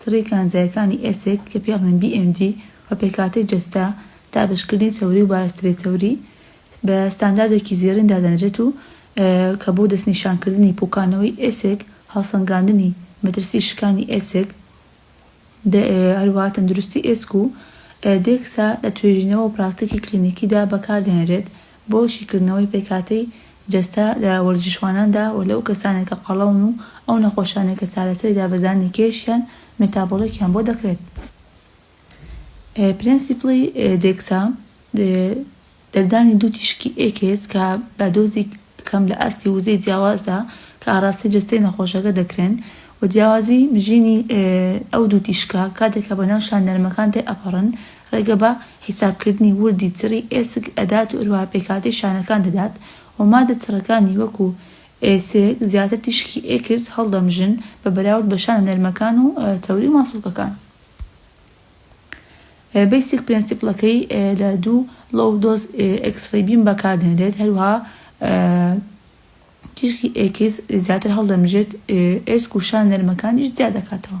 تڕی کانزایەکانی ئێسک کە پێ ئەڵێن BMG و پێکهاتەی جەستە، دابەشکردنی چەوری و بارستەی چەوری بە ستانداردێکی زێڕین دادەنرێت و کە بۆ دەستنیشانکردنی پوکانەوەی ئێسک، هەڵسەنگاندنی مەترسی شکانی ئێسک، هەروەها تەندروستی ئێسک و دێکسا لە توێژینەوە و پراکتیکی کلینیکیدا بەکاردەهێنرێت بۆ شیکردنەوەی پێکهاتەی جەستە لە وەرزشواناندا و لەو کەسانەی کە قەڵەون و ئەو نەخۆشانەی کە چارەسەری دابەزاندنی کێش یان مێتابۆڵێکیان بۆ دەکرێت. پرێنسیپڵی دێکسا، دەردانی دوو تیشکی ئێکس کە بە دۆزی کەم لە ئاستی وزەی جیاوازدا کە ئاڕاستەی جەستەی نەخۆشەکە دەکرێن و جیاوازی مژینی ئەو دوو تیشکە کاتێک کە بەناو شان نەرمەکان تێئەپەڕن، ڕێگە بە حیسابکردنی وردی چڕی ئێسک ئەدات و هەروەها پێکهاتەی شانەکان دەدات و ماددە چڕەکانی وەکو ئێسک زیاتر تیشکی ئێکس هەڵدەمژن بە بەراورد بە شانە نەرمەکان و چەوری و ماسوڵکەکان. بەیسیک پرێنسیپڵەکەی لە دوو لۆو دۆز ئێکسڕەی بیم بەکاردێنرێت هەروەها تیشکی ئێکس زیاتر هەڵدەمژێت ئێسک و شانە نەرمەکانیش جیا دەکاتەوە.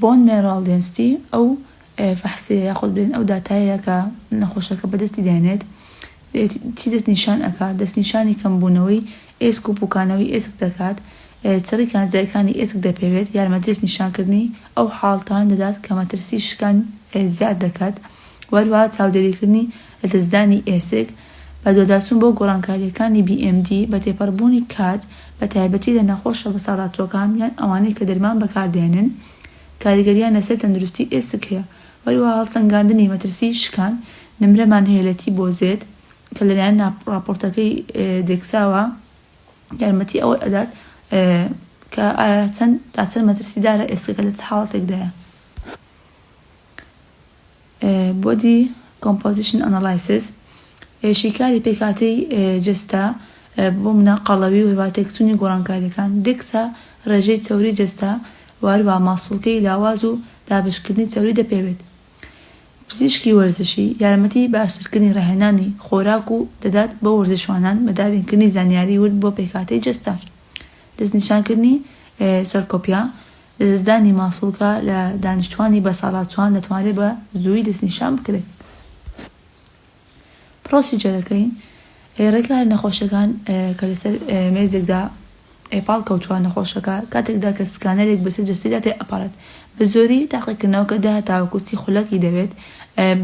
بۆن مێرۆ دێنستی، ئەو فەحسیە یاخود بڵێن ئەو داتایە کە نەخۆشەکە بەدەستی دەهێنێت چی دەست نیشان ئەکات؟ دەست نیشانی کەمبوونەوەی ئێسک و پوکانەوەی ئێسک دەکات، چڕی کانزایەکانی ئێسک دەپێوێت، یارمەتی دەست نیشانکردنی ئەو حاڵتانە دەدات کە مەترسی شکان زیاد دەکات، وەهەروەها چاودێریکردنی لەدەستدانی ئێسک، بەدواداچوون بۆ گۆڕانکارییەکانی بی ئێم دی، بە تێپەڕبوونی کات، بە تایبەتی لە نەخۆشە بەساڵاچووەکان یان ئەوانەی کە دەرمان بەکاردێنن، کاریگەرییان لەسەر تەندروستی ئێسک هەیە. هەروەها هەڵسەنگاندنی مەترسیی شکان، نمرەمان هەیە لە تی بۆ زێد، کە لەلایەن ڕاپۆرتەکەی دێکساوە یارمەتی ئەوە ئەدات کە ئایا چەند تا چەند مەترسیدارە ئێسکەکە لە چ حاڵەتێکدایە. Body Composition Analysis، شیکاری پێکهاتەی جەستە، بۆ منە قەڵەوی و هەروەها تێکچوونی گۆڕانکارییەکان، دەکسا، ڕێژەی چەوریی جەستە و هەروەها ماسوڵکەی لاواز و دابەشکردنی چەوری دەپێوێت. پزیشکی وەرزشی، یارمەتی باشترکردنی ڕاهێنانی خۆراک و دەدات بۆ وەرزشوانان بە دابینکردنی زانیاری ورد بۆ پێکهاتەی جەستە. دەستنیشانکردنی سەرکۆپیا. لەدەستدانی ماسوڵکە لە دانیشتوانی بەساڵا چۆان دەتوانرێت بە زووی دەستنیشان بکرێت پرۆسیجەرەکەی ڕێکاری نەخۆشەکان کە لەسەر مێزێکدا ئێپاڵ کەوتووە نەخۆشەکە کاتێکدا کە سکانەرێک بەسەر جەستەیدا تێ ئەپەڕێت بە زۆری تاقیکردنەوەکە دە تاوەکو سی خولەکی دەوێت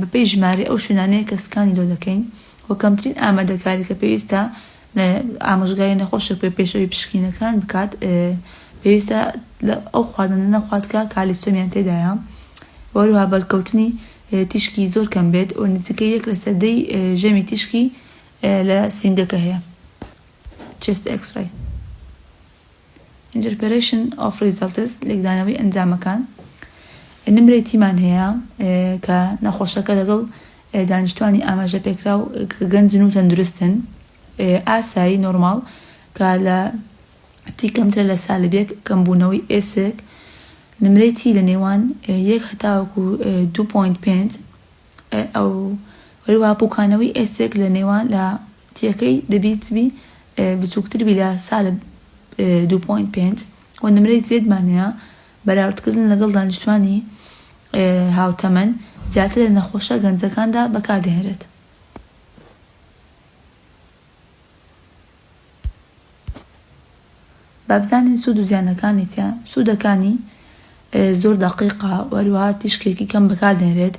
بەپێی ژمارەی ئەو شوێنانەی کە سکانی لۆ دەکەین و کەمترین ئامادەکاری کە پێویستە ئامۆژگاری نەخۆشێک بە پێشەوەی پشکینەکان بکات پێویستە ئەو خواردنە نەخوات کە کالیستۆنیان تێدایە و هەروها بەرکەوتنی تیشکی زۆر کەم بێت و نزیکەی یەک لە سەر دەی ژەمی تیشکی لە سینگەکە هەیە چێست ئێکسڕەی Interpretation of Results لێکدانەوەی ئەنجامەکان نمرەی تیمان هەیە کە نەخۆشەکە لەگەڵ دانیشتوانی ئاماژە پێکراو کە گەنجن و تەندروستن ئاسایی نۆرماڵ کە لە تی کەمترە لە سالبێک کەمبوونەوەی ئێسک نمرەی تی لە نێوان یەک هەتاوەکو 2.5 ئەو هەروە پوکانەوەی ئێسک لە نێوان لە تیەکەی دەبیت بی بچووکتر بی لە سالب دوو پۆینت پێنج و نمرەی زێدمان هەیە، بەراوردکردن لەگەڵ دانیشتوانی هاوتەمەن زیاتر لە نەخۆشە گەنجەکاندا بەکاردەهێنرێت. با بزانین سوود و زیانەکانی چیە؟ سوودەکانی، زۆر دەقیقە و هەروەها تیشکێکی کەم بەکاردێنرێت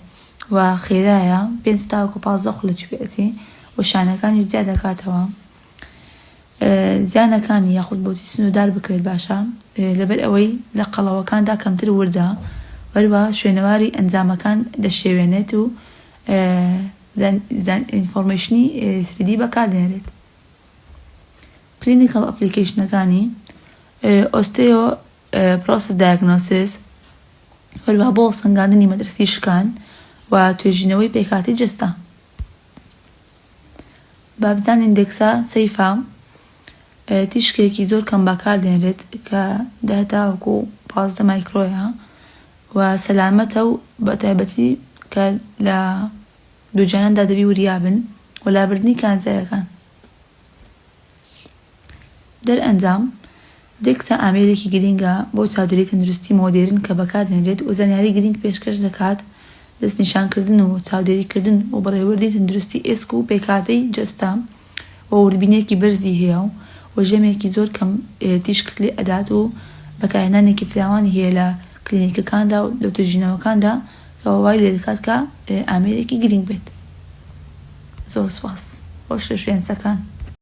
و خێرایە، پێنج تاوەکو پازدە خولەکی پێ ئەچێ و شانەکانیش جیا دەکاتەوە. زیانەکانی، یاخود بۆچی سنووردار بکرێت باشە؟ لەبەر ئەوەی لە قەڵەوەکاندا کەمتر وردە و هەروەها شوێنەواری ئەنجامەکان دەشێوێنێت و ئینفۆرمەیشنی 3D بەکاردێنرێت. کلینیکەڵ ئەپڵیکەیشنەکانی، Osteoporosis Diagnosis، هەروەها بۆ هەڵسەنگاندنی مەترسی شکان و توێژینەوەی پێکهاتەی جەستە. با بزانین دێکسا سەیفا تیشکێکی زۆر کەم بەکاردێنرێت کە دە تاوەکو پازدە مایکرۆیە و سەلامەتە و بە تایبەتی کە لە دووجاناندا دەبی وریابن و لابردنی کانزایەکان. دەرئەنجام، دێکسا ئامێرێکی گرینگە بۆ چادری تەندروستی مۆدێرن کە بەکاردێنرێت و زانیاری گرینگ پێشکەش دەکات، دەستنیشانکردن و چاودێریکردن و بەڕێوەردی تەندروستی ئێسک و پێکهاتەی جەستە و وردبینیەکی بەرزی هەیە و ژەمێکی زۆر کەم تیشکت لێ ئەدات و بەکارهێنانێکی فراوانی هەیە لە کلینیکەکاندا و لەوتوێژینەوەکاندا کەوا وای لێدەکات کە ئامێرێکی گرینگ بێت زۆر سوپاس خۆش لە شوێنسەکان.